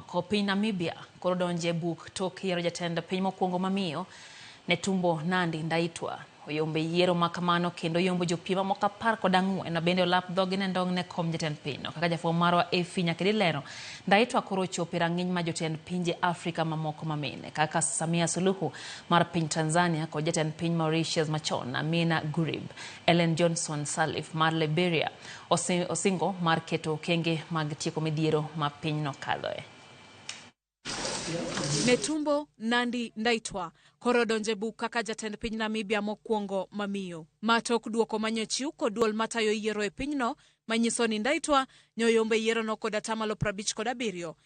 Ko piny Namibia koro donjo e buk tok yiero jatend piny mokwongo ma miyo, Netumbo Nandi Ndaitwa. Oyombo e yiero ma kamano kendo oyombo jopiem mamoko apar kod ang'wen ma bende olap dhogi ne ndong' ne kom jatend pinyno. Kaka jafwambo marwa Efi Nyakedi lero, Ndaitwa koro ochopo e rang'iny ma jotend pinje Afrika mamoko ma mine kaka Samia Suluhu mar piny Tanzania kod jatend piny Mauritius machon Amina Gurib, Ellen Johnson Sirleaf mar Liberia, Ose- Osingo mar keto okenge mag tieko midhiero ma pinyno kadhoe. Netumbo Nandi Ndaitwah koro odonje buk kaka jatend piny Namibia mokwongo mamiyo. Ma tok duoko manyochiw kod duol matayo yiero e pinyno manyiso ni Ndaitwah nyoyombo e yierono kod atamalo prabich kod abiriyo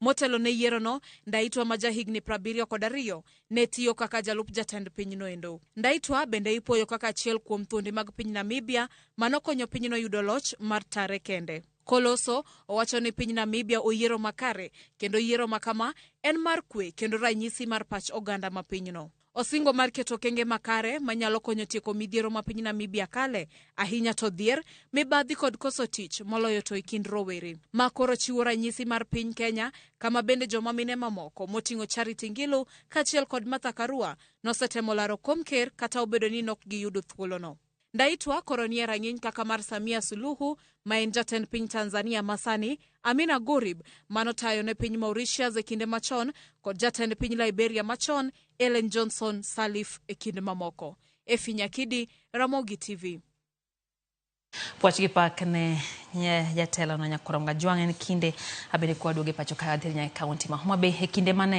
Motelo ne yierono, Ndaitwa ma jahigni prabiriyo kod ariyo ne tiyo kaka jalup jatend pinyno endo. Ndaitwa bende ipuoyo kaka achiel kuom thuondi mag piny Namibia ma nokonyo pinyno yudo loch mar tare kende. Koloso owacho ni piny Namibia oyiero makare kendo yiero makama en mar kwe kendo ranyisi mar pach oganda ma pinyno. Osingo mar keto okenge makare manyalo konyo tieko midhiero ma piny Namibia kale, ahinya to dhier, mibadhi kod koso tich, moloyo to e kind rowere. Ma koro chiwo ranyisi mar piny Kenya, kama bende joma mine mamoko, moting'o Charity Ngilu kaachiel kod Martha Karua, nosetemo laro kom ker kata obedo ni nok giyudo thuolono. Ndaitwa koro nie rang'iny kaka mar Samia Suluhu ma en jatend piny Tanzania masani, Amina Gurib manotayo ne piny Mauritius e kinde machon kod jatend piny Liberia machon Ellen Johnson Sirleaf e kind mamoko. Efi Nyakidi, Ramogi TV. Puoch gi pak ne nye jatelo no Nyakuramga Jwang' en kinde abedo kwa duoge pacho ka adhir nyaka kaunti ma Homa Bay e kinde mane